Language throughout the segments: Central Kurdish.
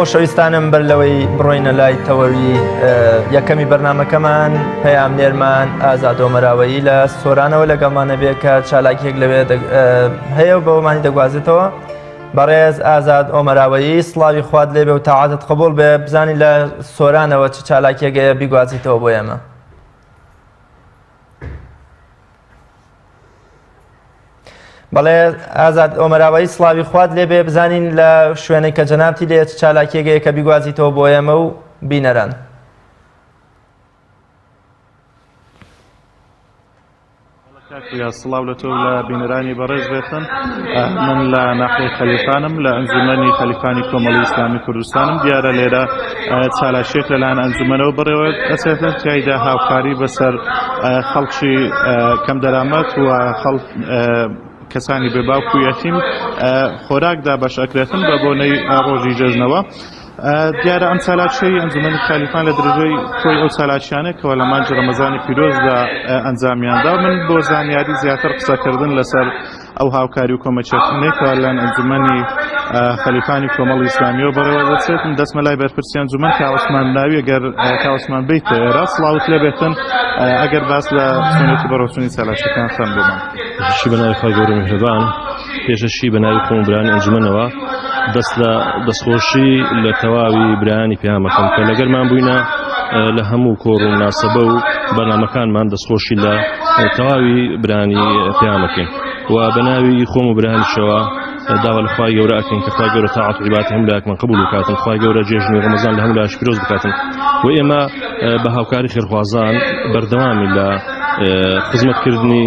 خۆشەویستانم بەر لەوەی بڕۆینە لای تەوەوی یەکەمی بەرنمەکەمان پەیام نێرمان ئازادۆمەراوەیی لە سۆرانەوە لەگەڵمانە بێ کە چالاکیەک لەوێ هەیە و بەوەمانی دەگوازێتەوە بەڕێز ئازاد ئۆمەراوەیی سڵاوی خوات لێ بێ و تاعاتت قبول بێ بزانی لە سۆرانەوە چ چالاکیەگەیە بیگوازیتەوە بۆ ئێمە. بەڵێ ئازاد ئۆمەراوایی سڵاوی خوات لێبێ بزانین لە شوێنێک کە جەنابتی لێ چ چالاکیەکەیە کە بیگوازیتەوە بۆ ئێمە و بینەران یا سڵاو لە تۆ لە بینەرانی بەڕێز بێتن من لە ناحی خەلیفانم لە ئەنجومەنی خەلیفانی کۆمەڵی ئیسلامی کوردستانم دیارە لێرە چالاکیەک لەلایەن ئەنجومەنەوە بەڕێوە ئەچێتە تایدا هاوکاری بەسەر خەڵکی کەم دەرامەت و خەڵک کەسانی بێ باوک و یەتیم خۆراکدا بەش ئەکرێتن بە بۆنەی ڕۆژی جەژنەوە. دیارە ئەم چالاکیی ئەنجومەنی خالیفان لە درێژەی کۆی ئەو چالاکیانەی کەەوە لە مانجی ڕەمەزانی پیرۆزدا ئەنجامیاندا من بۆ زانیاری زیاتر قسەکردن لەسەر ئەو هاوکاری و کۆمەکیەتنەی کە لەن ئەنجومەنی خەلیفانی کۆمەڵی ئیسلامیەوە بەڕێوە دەچێت دەستمە لای بەرپرسی ئەنجومەن کاوەسمان ناوی گەر کاوەسمان بیت ئێرە سڵاوت لێ بێتن ئەگەر باس لە سنێتی بەڕۆچنی چالاکیەکان خەم بمان شی بەناوی خوا گەورە میهرەبان پێشەشی بەناوی خۆم برانی ئەنجومەنەوە دەست لە دەستخۆشی لە تەواوی برایانی پەیامەکەم کە لەگەرمان بووینە لە هەموو کۆڕ و ناسەبە و بەنامەکانمان دەستخۆشی لە تەواوی برانی پەیامەکەین و بە ناوی خۆم و برانیشەوە داوا لە خوای گەورە ئەکەین کە خوای گەورە تاعات و عیبات هەموو لایەکمان قبول بکاتن خوای گەورە جێژنی ڕەمەزان لە هەموو لایش پیرۆز بکاتن و ئێمە بە هاوکاری خێرخوازان بەردەوامی لە خزمەتکردنی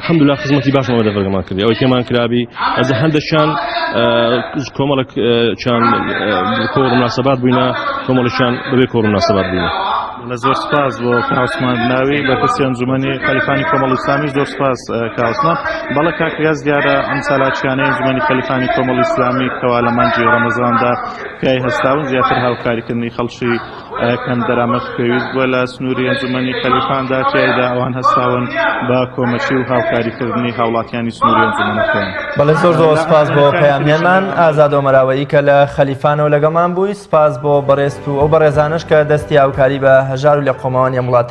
الحمدللە خزمەتی باشمان بە دەڤەرگەمان کردی ئەوەی پێمان کرابی ئەزە هەندەشیان کۆمەڵک چیان کۆڕ مناسەبات بووینە کۆمەڵشیان بەبێ کۆڕ مناسەبات بووینە لە زۆر سپاس بۆ کاوسمان ناوی لە پرسی ئەنجومەنی خەلیفانی کۆمەڵ ئیسلامی زۆر سپاس کاوسمان بەڵە کاکریاز دیارە ئەم سالاچیانە ئەنجومەنی خەلیفانی کۆمەڵ ئیسلامی کەوا لە مانجی ڕەمەزاندا پیای هەستاون زیاتر هاوکاریکردنی خەڵکی کەم دەرامەت پێویست بووە لە سنووری ئەنجوومەنی خەلیفاندا، تیایدا ئەوان هەستاون بە کۆمەکی و هاوکاریکردنی هاوڵاتیانی سنووری ئەنجوومەنەکەیان. بەڵێ زۆر زۆر سپاس بۆ پەیامنێرمان ئازاد ئۆمەراوەیی کە لە خەلیفانەوە لەگەڵمان بووی، سپاس بۆ بەڕێزت و ئەو بەڕێزانەش کە دەستی هاوکاری بە هەژار و لێقەوماوانی ئەم وڵاتە.